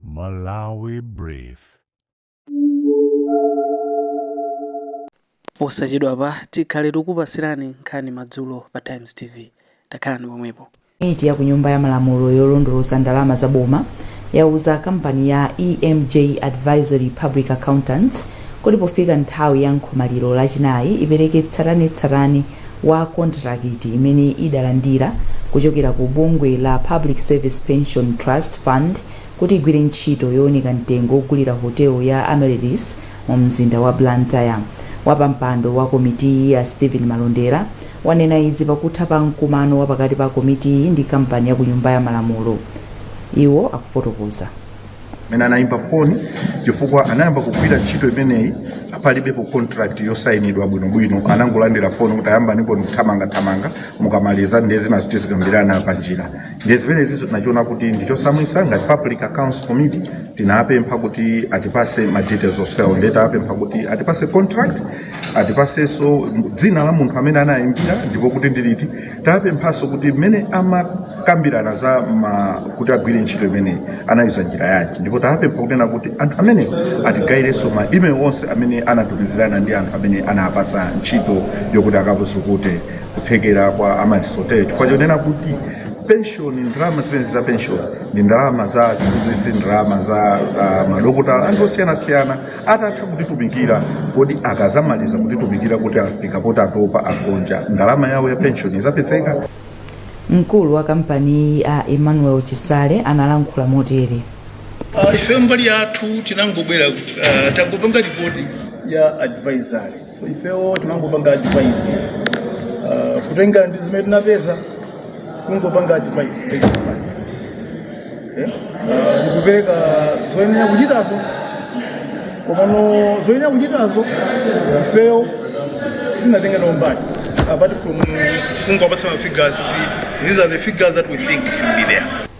Malawi Brief. posachedwapa tikhale tikupatsirani nkhani madzulo pa times tv takhalani pomwepo Komiti ya ku nyumba ya malamulo yolondoloza ndalama za boma yauza kampani ya EMJ Advisory Public Accountants kuti pofika nthawi ya nkhomaliro lachinayi ipereke tsatanetsatane wa kontilakiti imene idalandira kuchokera ku bungwe la Public Service Pension Trust Fund kuti igwire ntchito yowunika mtengo wogulira hotelo ya Amaryllis mu mzinda wa Blantyre. Wapampando wa komitiyi a Steven Malondera wanena izi pakutha pa mkumano wapakati pa komitiyi ndi kampani ya ku Nyumba ya Malamulo. Iwo akufotokoza. mene anayimba foni chifukwa anayamba kugwira ntchito imeneyi palibepo contract yosayinidwa bwinobwino anangolandira foni kuti ayamba ndipo ndikuthamanga thamanga mukamaliza ndiye zinazo tizikambirana pa njira ndiye zimeneziso tinachiona kuti ndichosamwisa ngati public accounts committee tinapempha kuti atipase ma details onsewo ndiye tapempha kuti atipase contract atipaseso dzina la munthu amene anayimbira ndipo kuti ndiliti tapemphanso kuti mmene amakambirana za ma kuti agwire ntchito imeneyi anayuza njira yanji ndipo tapempha kunena kuti anthu amene atigayirenso ma email onse amene anatumizirana ndi anthu amene anapasa ntchito yokuti akazukute kuthekera kwa Amaryllis Hotel yo chifukwa chonena kuti penshoni ndalama zimenezi za penshoni ndi ndalama za aziphunzitsi ndalama za uh, madokotala anthu osiyanasiyana atatha kutitumikira kodi akazamaliza kutitumikira kuti afika poti atopa agonja ndalama yawo ya pension izapezeka mkulu wa kampaniyi a emmanuel chisale analankhula motere ife mbali yathu tinangobwera uh, tangopanga ripoti ya advisory so ifewo tinangopanga advice uh, kutengera ndi zimene tinapeza kungopanga advice based on that. Eh? Uh, ndikupereka zoyenera kuchitazo komano zoyenera kuchitazo ifeyo sinatenga nawo mbali apart from kungopatsa ma figures these are the figures that we think should be there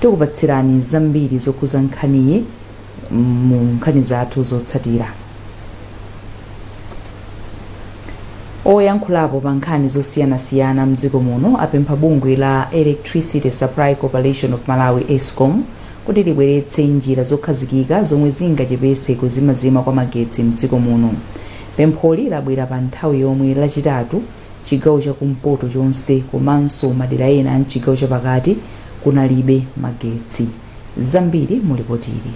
Tikupatsirani zambiri zokhuza nkhaniyi mu nkhani zathu zotsatira. Oyankhulapo pa nkhani zosiyanasiyana mdziko muno apempha bungwe la Electricity Supply Corporation of Malawi, Escom, kuti libweretse njira zokhazikika zomwe zingachepetse kuzimazima kwa magetsi mdziko muno. Pempholi labwera pa nthawi yomwe Lachitatu, chigawo chakumpoto chonse komanso madera ena a mchigawo chapakati kunalibe magetsi. Zambiri mu lipotili.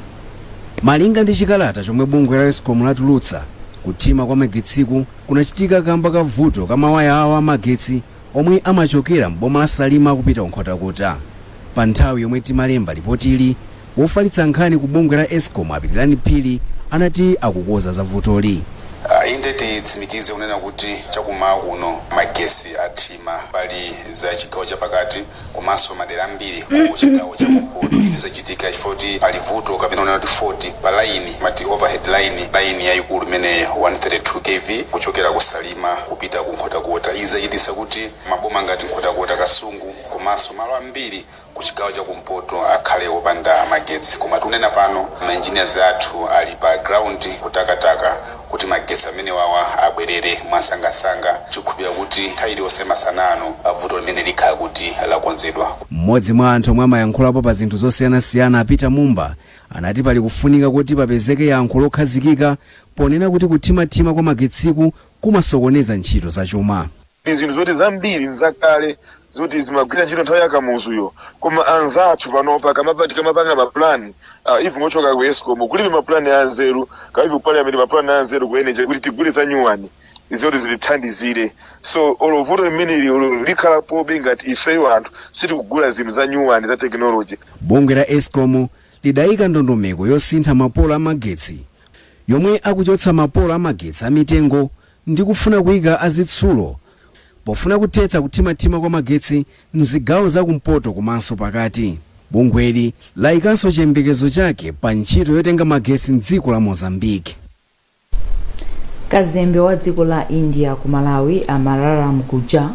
Malinga ndi chikalata chomwe bungwe la escom latulutsa, kuthima kwa magetsiku kunachitika kamba ka vuto ka mawaya awo a magetsi omwe amachokera m'boma la Salima kupita ku Nkhotakota. Pa nthawi yomwe timalemba lipotili, Wofalitsa nkhani ku bungwe la Escom a Pilirani Phiri anati akukonza za vutoli. Inde titsimikize kunena kuti chakummawa kuno magetsi athima mbali za chigawo chapakati komanso madera ambiri ku chigawo cha kumpoto. Izi zachitika chifukwa choti pali vuto kapena kunena kuti fault pa line timati overhead line, line yayikulu imene ndi 132 KV kuchokera ku Salima kupita ku Nkhotakota. Izi zachititsa kuti maboma ngati Nkhotakota, Kasungu komanso malo ambiri kuchigawo chakumpoto akhale opanda magetsi koma tikunena pano ma engineers athu ali pa ground kutakataka kuti magetsi amenewawa abwerere mwansangansanga tikukhulupilira kuti nthawi iliyonse masana ano vuto limeneli likhala kuti lakonzedwa. M'modzi mwa anthu omwe amayankhulapo pa zinthu zosiyanasiyana a Peter Mumba anati pali kufunika kuti papezeke yankho lokhazikika ponena kuti kuthimathima kwa magetsiku kumasokoneza ntchito zachuma. Ndi zinthu zoti zambiri nzakale zoti zimagwira ntchito nthawi ya Kamuzuyo koma anzathu panopa kaamba tikamapanga ma plan ah, even ochoka ku Escom kulibe ma plan a nzeru kaya even ku parliament ma plan a nzeru ku energy kuti tigule za nyuwani zoti zilithandizire so olo vuto limeneli likhalapobe ngati ifeyo anthu sitikugula zinthu za nyuwani za technology Bungwe la Escom lidaika ndondomeko yosintha mapolo amagetsi yomwe akuchotsa mapolo amagetsi amitengo ndi kufuna kuika azitsulo pofuna kuthetsa kuthimathima kwa magetsi m'zigawo za kumpoto komanso pakati. Bungweli laikanso chiyembekezo chake pa ntchito yotenga magetsi m'dziko la Mozambique. Kazembe wa dziko la India ku Malawi, Amararam Gujjar,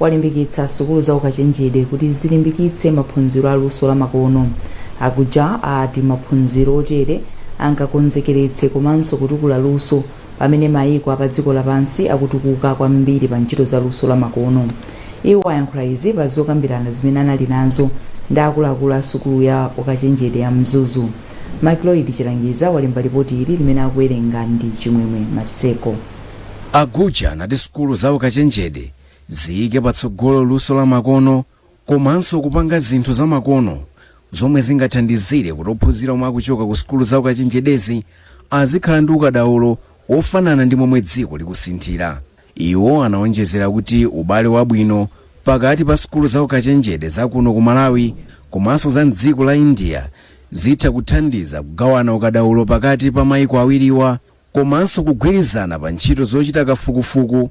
walimbikitsa sukulu za ukachenjede kuti zilimbikitse maphunziro a luso lamakono. A Gujjar ati maphunziro otere angakonzekeretse komanso kutukula luso Pamene maiko a padziko lapansi akutukuka kwambiri pa ntchito za luso lamakono. Iwo ayankhula izi pa zokambirana zimene anali nazo ndi akuluakulu a sukulu ya ukachenjede ya Mzuzu. McLoyd Chilangiza walemba lipoti ili limene akuwerenga ndi Chimwemwe Maseko. A Gujjar anati sukulu za ukachenjede ziyike patsogolo luso lamakono komanso kupanga zinthu zamakono zomwe zingathandizire kuti ophunzira omwe akuchoka ku sukulu za ukachenjedezi azikhala ndi ukadaulo wofanana ndi momwe dziko likusinthira. Iwo anaonjezera kuti ubale wabwino pakati pa sukulu za ukachenjede za kuno ku Malawi komanso za m'dziko la India zitha kuthandiza kugawana ukadaulo pakati pa maiko awiriwa komanso kugwirizana pa ntchito zochita kafukufuku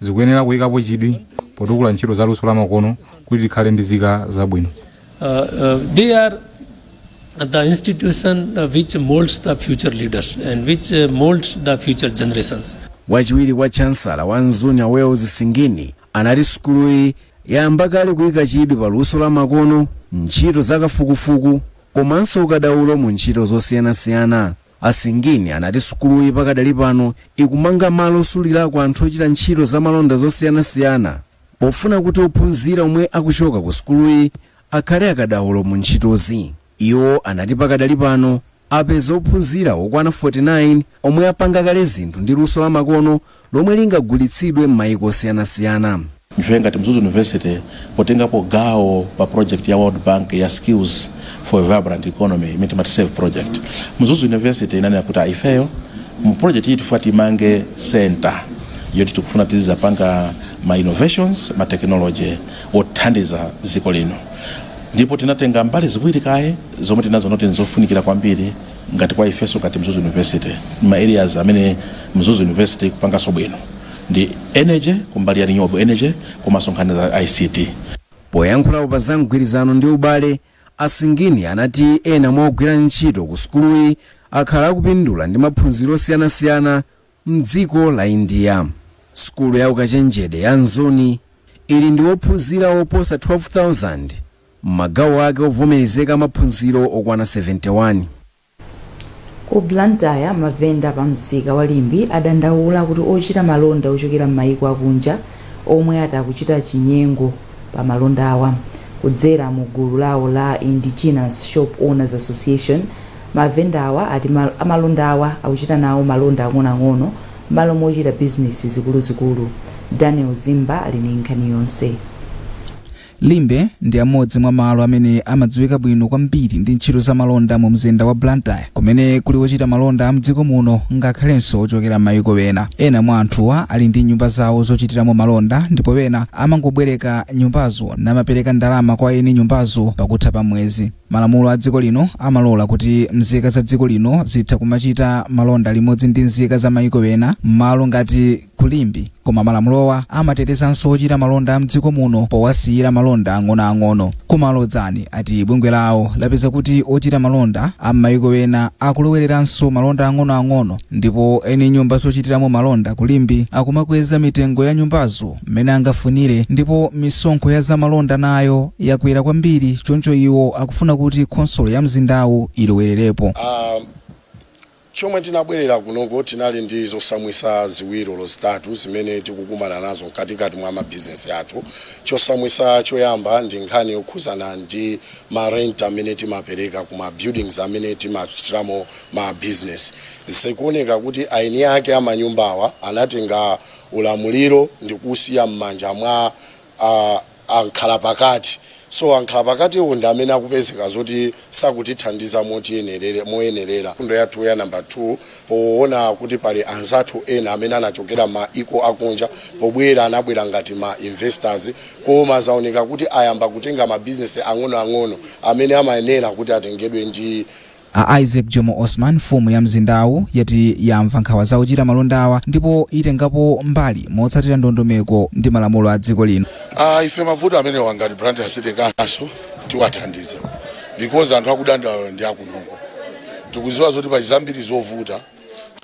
Zikuyenera kuyikapo chidwi potukula ntchito za luso lamakono kuti tikhale ndi zika zabwino. They are the institution which molds the future leaders and which molds the future generations. Wachiwiri kwa Chansala wa Mzuni a Wells Singini anati sukuluyi yayamba kale kuyika chidwi pa luso lamakono, ntchito zakafukufuku komanso ukadaulo mu ntchito zosiyanasiyana. A Singini anati sukuluyi pakadali pano ikumanga malo osulirako anthu ochita ntchito za malonda zosiyanasiyana pofuna kuti ophunzira omwe akuchoka ku sukuluyi akhale akadaulo mu ntchitozi. Iwo anati pakadali pano apeza ophunzira okwana 49 omwe apanga kale zinthu ndi luso la makono lomwe lingagulitsidwe m'mayiko osiyanasiyana. ife ngati mzuzu university potengapo gawo pa project ya world bank ya skills for a vibrant economy imene timati save project mzuzu university inanena kuti ifeyo mu project iyi tifuna timange center yoti tikufuna tizidzapanga ma innovations ma technology othandiza dziko lino ndipo tinatenga mbali ziwiri kaye zomwe tinaziona kuti nzofunikira kwambiri ngati kwa ifenso ngati mzuzu university ma areas amene mzuzu university ikupanganso bwino ndi energy kumbali ya renewable energy komanso nkhani za ict poyankhulapo pa za mgwirizano ndi ubale asingini anati ena mwa ogwira ntchito ku sukuluyi akhala akupindula ndi maphunziro osiyanasiyana mdziko la india sukulu ya ukachenjede ya mzuni ili ndi ophunzira oposa 12000 m'magawo ake ovomerezeka a maphunziro okwana 71. Ku Blantyre, mavenda pa msika wa Limbe adandaula kuti ochita malonda ochokera m'maiko akunja omwe ati akuchita chinyengo pa malondawa. Kudzera mu gulu lawo la Indigenous Shop Owners Association, mavendawa ati amalondawa akuchita nawo malonda ang'onoang'ono m'malo mochita bizinesi zikuluzikulu. Daniel Zimba ali ndi nkhani yonse. Limbe ndi amodzi mwa malo amene amadziwika bwino kwambiri ndi ntchito za malonda mu mzinda wa Blantyre kumene kuli ochita malonda a mdziko muno ngakhalenso ochokera m'mayiko ena. Ena mwa anthuwa ali ndi nyumba zawo zochitiramo malonda ndipo ena amangobwereka nyumbazo namapereka ndalama kwa eni nyumbazo pakutha pa mwezi. Malamulo a dziko lino amalola kuti mzika za dziko lino zitha kumachita malonda limodzi ndi mzika za mayiko ena m'malo ngati ku Limbe koma malamulowa amatetezanso ochita malonda a mdziko muno powasiyira malonda ang'onoang'ono. Koma a Lodzani ati bungwe lawo lapeza kuti ochita malonda a m'mayiko ena akulowereranso malonda ang'onoang'ono ndipo eni nyumba zochitiramo malonda ku Limbe akumakweza mitengo ya nyumbazo mmene angafunire ndipo misonkho ya zamalonda nayo yakwera kwambiri choncho iwo akufuna kuti khonsolo ya mzindawu ilowererepo. Um, Chomwe tinabwerera kunoko tinali ndi zosamwisa ziwiri olo zitatu zimene tikukumana nazo mkatikati mwa ma bizinesi athu. Chosamwisa choyamba ndi nkhani yokhuzana ndi ma rent amene timapereka ku ma buildings amene timachitiramo ma bizinesi. Zikuoneka kuti eni ake a manyumbawa anatenga ulamuliro ndikuusiya mmanja mwa a. ankhalapakati. So ankhalapakatiwo ndi amene akupezeka zoti sakutithandiza moyenerera. Mfundo yathu ya number 2, poona kuti pali anzathu ena amene anachokera maiko akunja, pobwera anabwera ngati ma investors, koma zaoneka kuti ayamba kutenga ma business ang'onoang'ono amene amayenera kuti atengedwe ndi A Isaac Jomo Osman, mfumu ya mzindawu, yati yamva nkhawa za ochita malondawa ndipo itengapo mbali motsatira ndondomeko ndi malamulo a dziko lino. Uh, ife mavuto amenewa ngati Blantyre City Council tiwathandiza because anthu akudandaula ndi akunoko tikuziwa zoti pali zambiri zovuta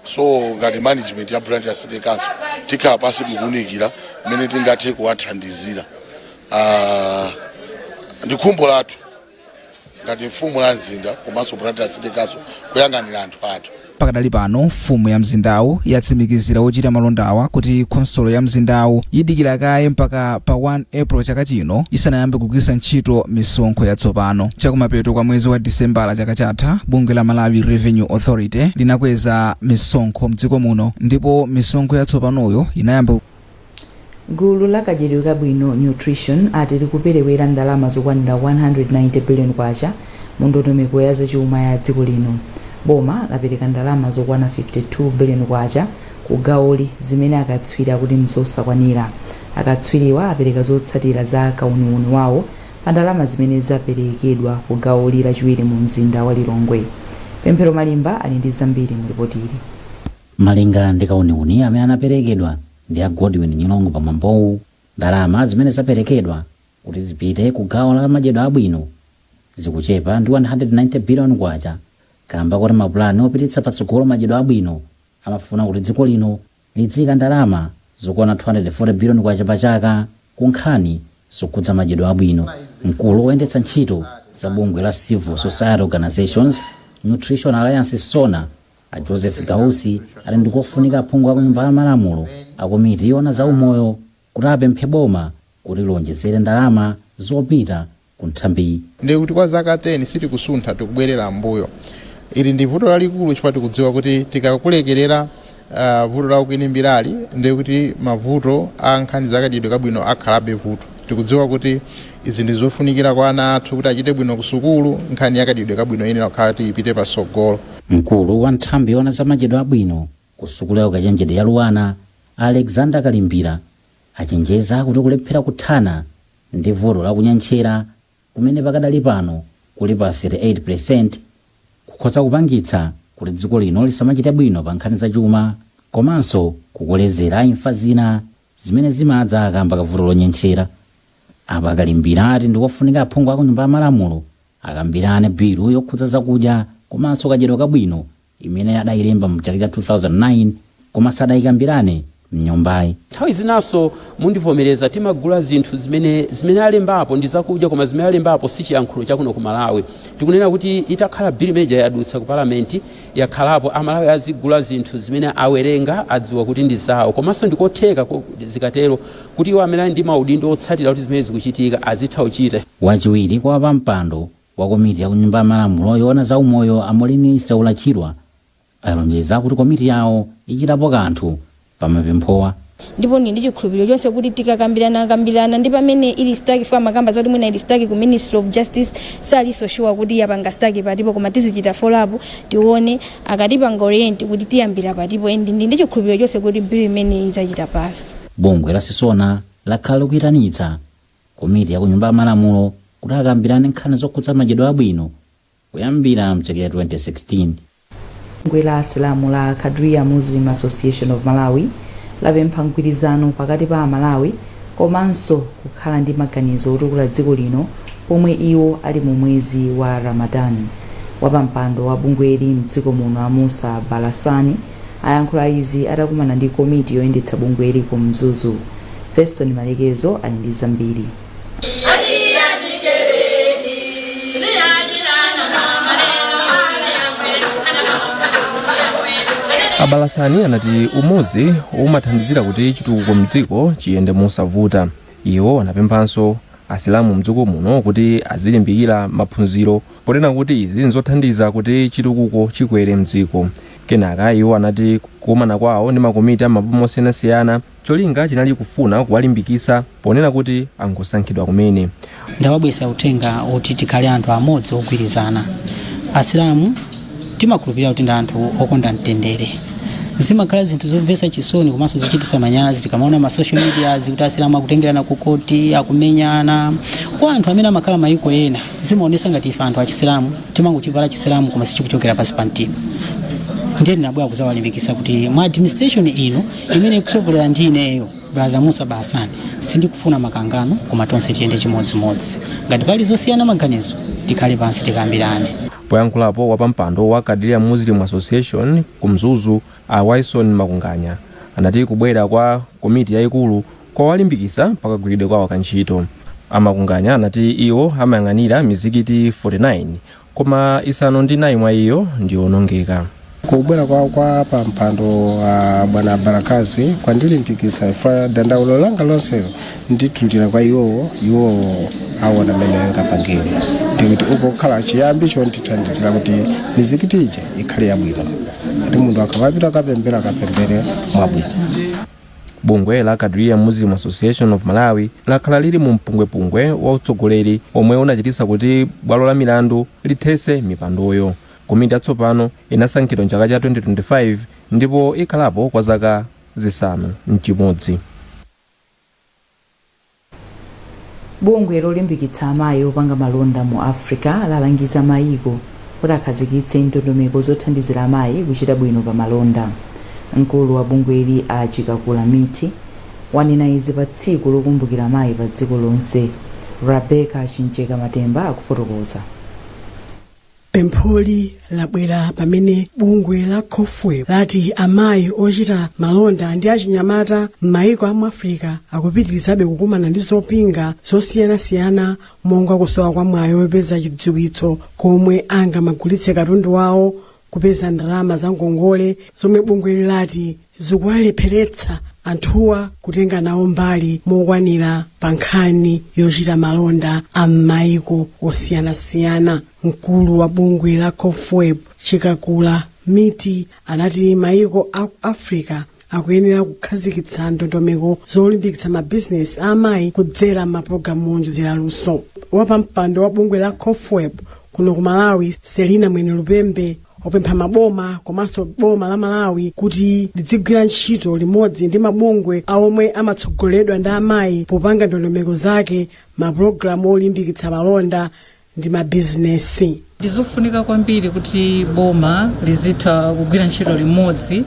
so ngati management ya Blantyre City Council tikhala pasi kuunikira mmene tingathe kuwathandizira uh, ndi khumbo lathu ngati mfumu la mzinda komanso Blantyre City Council kuyang'anira anthu athu. pakadali pano mfumu ya mzindawu yatsimikizira ochita malondawa kuti khonsolo ya mzindawu idikira kaye mpaka pa 1 april chaka chino isanayambe kugwiritsa ntchito misonkho yatsopano chakumapeto kwa mwezi wa disembala chaka chatha bungwe la malawi revenue authority linakweza misonkho mdziko muno ndipo misonkho yatsopanoyo inayamba Gulu la kadyedwe kabwino, Nutrition, ati likuperewera ndalama zokwanira K190 billion mu ndondomeko ya zachuma ya dziko lino. Boma lapereka ndalama zokwana K52 billion ku gawoli zimene akatswiri akuti nzosakwanira. Akatswiriwa apereka zotsatira za kauniuni wawo pa ndalama zimene zaperekedwa ku gawoli lachiwiri mu mzinda wa Lilongwe. Pemphero Malimba ali ndi zambiri mu lipotili. Malinga ndi kauniuni amene anaperekedwa ndi a Godwin Nyirongo pa mwambowu, ndalama zimene zaperekedwa kuti zipite ku gawo la madyedwe abwino zikuchepa ndi K190 biliyoni kaamba koti mapulani opititsa patsogolo madyedwe abwino amafuna kuti dziko lino lidziika ndalama zokwana K240 biliyoni pa chaka ku nkhani zokhudza madyedwe abwino. Mkulu woyendetsa ntchito za bungwe la Civil Society Organisations Nutrition Alliance, CSONA, A Joseph Gausi ati ndikofunika aphungu aku nyumba ya malamulo a komiti yoona za umoyo kuti apemphe boma kuti lionjezere ndalama zopita ku nthambiyi. Ndiye kuti kwa zaka 10 sitikusuntha, tikubwerera m'mbuyo. Ili ndi vuto lalikulu chifukwa tikudziwa kuti tikakulekerera vuto la ukwinimbirali ndiye kuti mavuto a nkhani za kadyedwe kabwino akhalabe vuto. Tikudziwa kuti izi ndi zofunikira kwa ana athu kuti achite bwino ku sukulu, nkhani ya kadyedwe kabwino iyenera kukhala kuti ipite patsogolo. Mkulu wa nthambi yoona za madyedwe abwino ku sukulu ya ukachenjede ya Luanar, a Alexander Kalimbira, achenjeza kuti kulephera kuthana ndi vuto la kunyentchera kumene pakadali pano kuli pa 38% kukhoza kupangitsa kuti dziko lino lisamachite bwino pa nkhani za chuma komanso kukolezera imfa zina. zimene zimadza akamba kavuto lonyentchera apa a Kalimbira ati ndikofunika aphungu aku nyumba ya malamulo akambirane bilu yokhudza zakudya komanso kadyedwe kabwino imene adayilemba mu chaka cha 2009 koma sadayikambirane mnyumbayi nthawi zinanso mundivomereza timagula zinthu zimene zimene alembapo ndi zakudya koma zimene alembapo si chiyankhulo chakuno ku malawi tikunena kuti itakhala bill imene ija yadutsa ku parliament yakhalapo amalawi azigula zinthu zimene awerenga adziwa kuti ndi zawo komanso ndikotheka zikatero kuti iwo amene ali ndi maudindo otsatira kuti zimene zikuchitika azitha kuchita. Wachiwiri kwa wapampando wa komiti ya ku Nyumba ya Malamulo yoona za umoyo a Moureen Chaula Chirwa alonjeza kuti komiti yawo ichitapo kanthu pamapemphowa. Ndipo ndili ndi chikhulupiliro chonse kuti tikakambirana kambirana ndi pamene ili stuck chifukwa amakamba zoti mwina ili stuck ku ministry of justice sali so sure kuti yapanga stuck patipo koma tizichita follow up tione akatipanga orient kuti tiyambira patipo and ndili ndi chikhulupiliro chonse kuti bill imeneyi idzachita pass. Bungwe la CSONA lakhala likuitanitsa komiti ya ku Nyumba ya Malamulo kuti akambirane nkhani zokhudza madyedwe abwino Kuyambira m'chaka cha 2016. Bungwe la Asilamu la Qadria Muslim Association of Malawi lapempha mgwirizano pakati pa Amalawi komanso kukhala ndi maganizo otukula dziko lino pomwe iwo ali mu mwezi wa Ramadan. Wapampando wa bungweli mdziko muno a Musa Balasani ayankhula izi atakumana ndi komiti yoyendetsa bungweli ku Mzuzu. Feston Malekezo ali ndi zambiri. a Balasani anati umodzi umathandizira kuti chitukuko mdziko chiyende mosavuta iwo anapemphanso asilamu mdziko muno kuti azilimbikira maphunziro ponena kuti izi nzothandiza kuti chitukuko chikwere mdziko kenaka iwo anati kukumana kwawo ndi makomiti a mmaboma osiyanasiyana Cholinga chinali kufuna kuwalimbikitsa ponena kuti angosankhidwa kumene. Ndawabweretsa uthenga oti tikhale anthu amodzi ogwirizana. Asilamu timakhulupirira kuti ndi anthu okonda mtendere. Zimakhala zinthu zomvetsa chisoni komanso zochititsa manyazi tikamaona ma social medias kuti asilamu akutengerana ku koti, akumenyana. Kwa anthu amene amakhala mayiko ena zimaonetsa ngati ife anthu achisilamu timangochivala chisilamu koma sichikuchokera pansi pa mtima. Ndiye ndinabwera kudzawalimbikitsa kuti mu administration ino imene ikutsogolera ndi ineyo brother musa hassan sindikufuna makangano koma tonse tiyende chimodzimodzi ngati pali zosiyana maganizo tikhale pansi tikambirane poyankhulapo wapampando wa qadria muslim association ku mzuzu a wyson makunganya anati kubwera kwa komiti yayikulu kwawalimbikitsa pakagwiridwe kwawo ka ntchito a makunganya anati iwo amayang'anira mizikiti 49 koma isanu ndi inayi mwa iyo ndi yoonongeka kubwera kwawo kwa wapampando a bwana barakazi kwandilimbikitsa ifa dandaulo langa lonselo nditulira kwa iwowo iwowo awona mmene angapangire ndikuti ukhale chiyambi chondithandizira kuti mizikiti ija ikhale yabwino kuti munthu akamapita kukapemphera akapemphere mwabwino Bungwe la Qadria Muslim Association of Malawi lakhala lili mu mpungwepungwe wa utsogoleri omwe unachititsa kuti bwalo la milandu lithetse mipandoyo. Komiti yatsopano inasankhidwa m'chaka cha 2025 ndipo ikhalapo kwa zaka zisanu ndi chimodzi. Bungwe lolimbikitsa amayi opanga malonda mu Africa lalangiza mayiko kuti akhazikitse ndondomeko zothandizira amayi kuchita bwino pa malonda. Mkulu wa bungweli a Chikakula Miti wanena izi pa tsiku lokumbukira amayi pa dziko lonse. Rebecca Chimjeka Matemba akufotokoza. pempholi labwera pamene bungwe la comfwb lati amayi ochita malonda ndi achinyamata m'mayiko a mu afirika akupitirizabe kukumana ndi zopinga zosiyanasiyana monga kusowa kwa mwayi wopeza chidziwitso komwe angamagulitse katundu wawo kupeza ndalama za ngongole zomwe bungweli lati zikuwalepheretsa anthuwa kutenga nawo mbali mokwanira pa nkhani yochita malonda a m'mayiko osiyanasiyana mkulu wa bungwe la comfwb chikakula miti anati mayiko a ku africa akuyenera kukhazikitsa ndondomeko zolimbikitsa mabizinesi a amayi kudzera mapulogalamu oonjezera luso wapampando wa bungwe la comfwb kuno ku malawi selina mwenelupembe wapempha maboma komanso boma la malawi kuti lidzigwira ntchito limodzi ndi mabungwe omwe amatsogoleredwa ndi amayi popanga ndondomeko za mapulogalamu olimbikitsa malonda ndi mabizinesi ndizofunika kwambiri kuti boma lizitha kugwira ntchito limodzi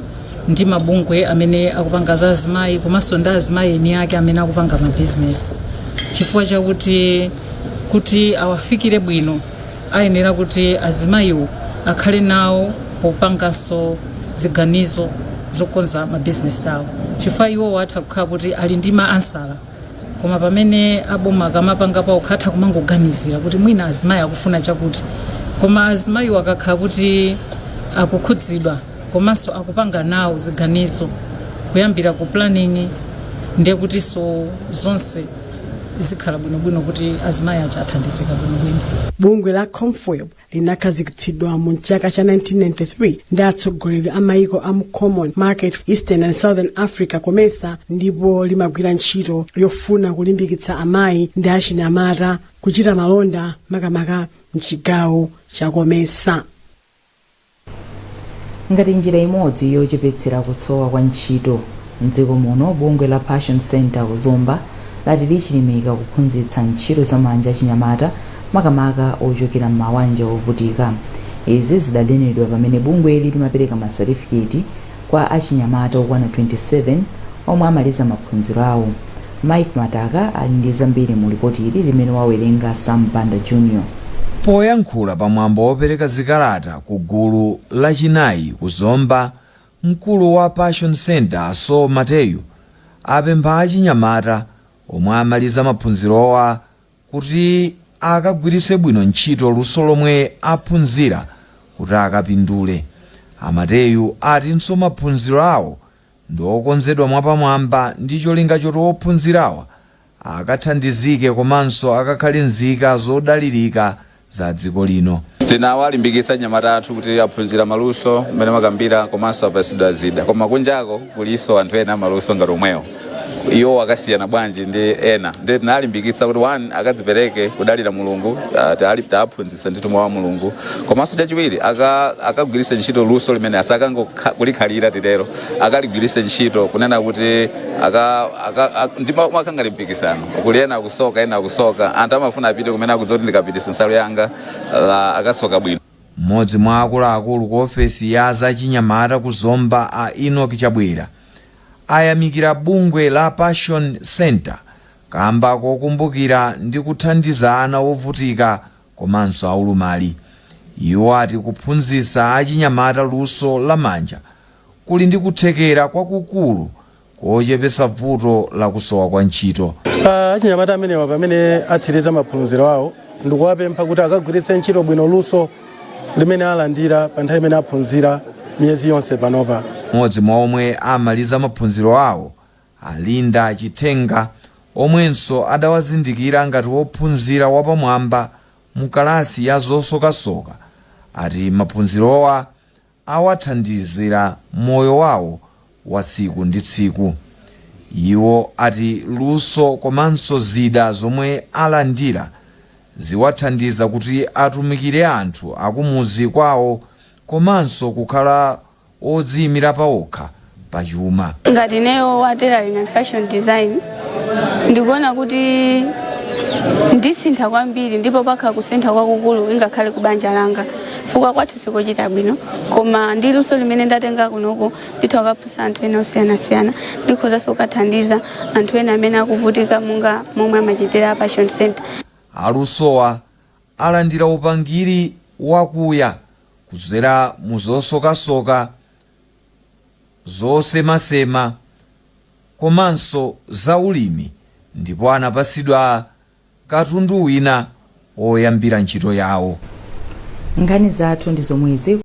ndi mabungwe amene akupanga za azimayi komanso ndi azimayi eni ake amene akupanga mabizinesi chifukwa chakuti kuti awafikire bwino ayenera kuti azimayiwo akhale nawo popanganso ziganizo zokonza mabizinesi awo chifukwa iwowo atha kukhala kuti ali ndi ma answer koma pamene aboma akamapanga pawokha atha kumangoganizira kuti mwina azimayi akufuna chakuti koma azimayiwo akakhala kuti akukhudzidwa komanso akupanga nawo ziganizo kuyambira ku planning ndiye kutinso zonse zikhala bwinobwino kuti azimayi aja athandizika bwinobwino bungwe la comfwb linakhazikitsidwa mu chaka cha 1993 ndi atsogoleri a maiko a mu common market for eastern and southern africa comesa ndipo limagwira ntchito yofuna kulimbikitsa amayi ndi achinyamata kuchita malonda makamaka mchigawo cha comesa Ngati njira imodzi yochepetsera kusowa kwa ntchito m'dziko muno, bungwe la Passion Center ku Zomba lati lichilimika kuphunzitsa ntchito za manja achinyamata makamaka ochokera m'mawanja ovutika. Izi zidanenedwa pamene bungweli limapereka masatifiketi Kwa achinyamata okwana 27 omwe amaliza maphunziro awo, Mike Mataka ali ndi zambiri mu lipoti ili limene wawerenga Sam Banda Junior. Poyankhula pa mwambo wopereka zikalata ku gulu lachinayi ku Zomba, mkulu wa Passion Center a Saul Mateyu apempha achinyamata omwe amaliza maphunzirowa kuti akagwiritse bwino ntchito luso lomwe aphunzira kuti akapindule. A Mateyu atinso maphunziro awo ndi okonzedwa mwapamwamba ndi cholinga choti ophunzirawa akathandizike komanso akakhale nzika zodalirika za dziko lino. Tinawalimbikitsa anyamata athu kuti aphunzira maluso mmene amakambira komanso apatsidwa zida koma kunjako kulinso anthu ena amaluso ngati omwewo iwo akasiyana bwanji ndi ena ndiye tinawalimbikitsa kuti one akadzipereke kudalira mulungu ah, tali- tawaphunzitsa ndithu mawu a mulungu komanso chachiwiri aka- akagwiritse ntchito luso limene asakangokha- kulikhalira titero akaligwiritse ntchito kunena kuti aka- aka- ak- ndi mumakhala ngati mpikisano kuli ena akusoka ena akusoka anthu amafuna apite kumene akudziwa kuti ndikapititsa nsalu yanga akasoka bwino mmodzi mwa akuluakulu ku ofesi ya zachinyamata ku zomba a enoch chabwera ayamikira bungwe la passion center kamba kokumbukira ndi kuthandiza ana ovutika komanso aulumali iwo ati kuphunzitsa achinyamata luso la manja kuli ndi kuthekera kwakukulu kochepetsa vuto la kusowa kwa ntchito. Achinyamata amenewa pamene atsiriza maphunziro awo ndikuwapempha kuti akagwiritse ntchito bwino luso limene alandira pa nthawi imene aphunzira miyezi yonse panopa. M'modzi mwa omwe amaliza maphunziro awo, a Linda Chithenga, omwenso adawazindikira ngati wophunzira wapamwamba mu kalasi ya zosokasoka, ati maphunzirowa awathandizira moyo wawo wa tsiku ndi tsiku. Iwo ati luso komanso zida zomwe alandira ziwathandiza kuti atumikire anthu akumudzi kwawo komanso kukhala odziyimira pawokha. pa chuma. Ngati ineyo wa tailoring and fashion design ndikuona kuti ndisintha kwambiri ndipo pakhala kusintha kwakukulu ingakhale ku banja langa chifukwa kwathu sikuchita bwino koma ndi luso limene ndatenga kunoko nditha kukaphunzitsa anthu ena osiyanasiyana ndikhozanso kukathandiza anthu ena amene akuvutika monga momwe amachitira a Passion Center. Alusowa alandira upangiri wakuya kudzera mu zosokasoka zosemasema komanso za ulimi ndipo anapatsidwa katundu wina woyambira ntchito yawo. Nkhani zathu ndi zomwezi.